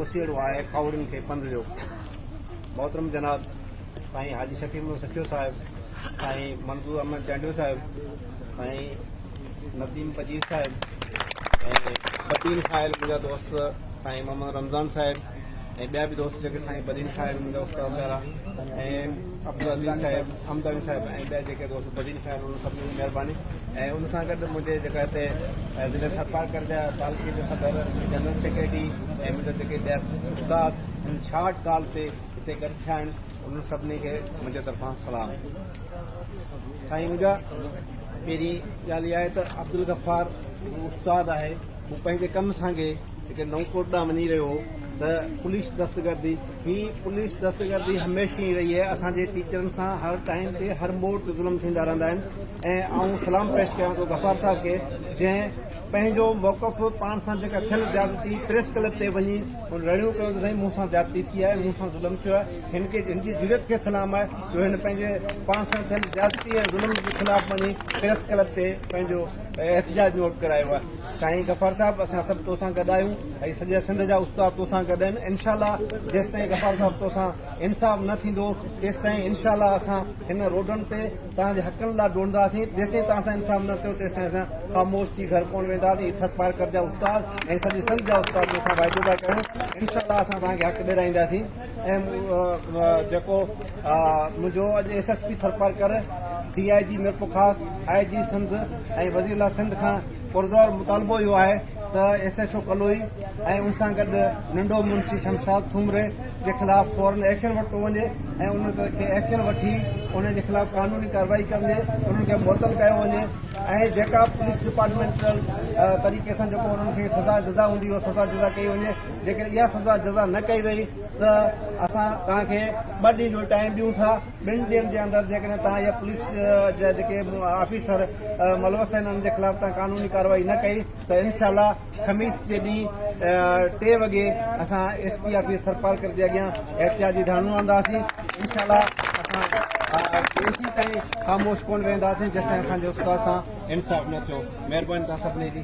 اوسيئڙو آهي کاهورن کي پنڌ جو محترم جناب سائين حاجي شفيع محمد سٺيو صاحب سائين منظور احمد چانڊيو صاحب سائين نديم پجير صاحب بدين خائل منهنجا دوست سائين محمد رمضان صاحب ۽ ٻيا به دوست جيڪي سائين بدين خائل منهنجا استاد پيارا ۽ عبدالعزيز صاحب حمداني صاحب ۽ ٻيا جيڪي دوست بدين خان انهن سڀني جي مهرباني ۽ ان سان گڏ منهنجي جيڪا هتي ضلعي ٿرپارڪر جا تعلقي جا صدر جنرل سيڪريٽري ۽ منهنجا جيڪي ٻيا استاد ان شارٽ ڳالهه تي هتي گڏ ٿيا آهن انهن سڀني کي منهنجي طرفان سلام سائين منهنجا پهرين ڳالهه اها آهي ته عبدالغفار هڪ استاد آهي مون پنهنجي ڪم سانگي جيڪي نئون ڪوٽ ڏانهن وڃي رهيو هو ته پوليس دستگردي هي پوليس دهشتگردي هميشه ائين رهي آهي اسان جي ٽيچرن سان هر ٽائيم تي هر موڙ تي ظلم ٿيندا رهندا آهن ۽ آئون سلام پيش ڪيان ٿو غفار صاحب کي جنهن پنهنجو موقف پاڻ سان جيڪا ٿيل زيادتي پريس ڪلب تي وڃي هن رڙيون ڪيو ته سائين مون سان زيادتي ٿي آهي مون سان ظلم ٿيو آهي هن کي هن جي جرئت کي سلام آهي جو هن پنهنجي پاڻ سان ٿيل زيادتي ۽ ظلم جي خلاف وڃي پريس ڪلب تي پنهنجو احتجاج نوٽ ڪرايو آهي سائين غفار صاحب اسان سڀ توسان گڏ آهيون ۽ سڄي سنڌ جا استاد توسان گڏ آهن انشاء الله جيستائين غفار صاحب توسان انصاف نه ٿيندو تيستائين انشاء الله اسان هن روڊن تي توهان جي حقن لا ڊوڙنداسين جيستائين توهان سان انصاف نه ٿيو تيستائين اسان خاموش ٿي گهر ڪونه وينداسين هي ٿر پارڪر جا استاد ۽ سڄي سنڌ جا استاد توسان واعدو پيا ڪريون انشاء الله اسان توهان کي حق ڏيرائينداسين ۽ جيڪو منهنجو اڄ S S P Thar Parkar D I G Mirpurkhas I G Sindh ۽ وزير اعليٰ سنڌ کان پرزور مطالبو اهو آهي ته ايس ايڇ او ڪلوئي ۽ ان سان گڏ ننڍو منشي شمشاد سومري جي خلاف فورن ايڪشن ورتو وڃي ۽ انهن کي ايڪشن وٺي انهن جي خلاف قانوني ڪارروائي ڪندي انهن کي معطل ڪيو وڃي ۽ جيڪا پوليس ڊپارٽمينٽل طريقي سان جيڪو انهن کي سزا جزا هوندي اها سزا جزا ڪئي وڃي جيڪڏهن اها سزا جزا نه ڪئي وئي ته اسان توهان کي ٻه ڏينهن جو ٽائيم ڏيون ٿا ٻن ڏينهن جي اندر جيڪڏهن توهان يا پوليس جا جيڪي آفيسر ملوث آهن انهن جي خلاف توهان قانوني ڪارروائي نه ڪئي ته انشاء الله خميس جي ڏينهن ٽي وڳي اسان ايس پي آفيس ٿرپارڪر جي اڳيان احتجاجي ڌرڻو هڻنداسين انشاء الله اسان ڪيسي تائين خاموش ڪونه ويهنداسين جيسين اسان جو استاد سان انصاف نه ٿيو مهرباني توهان سڀني جي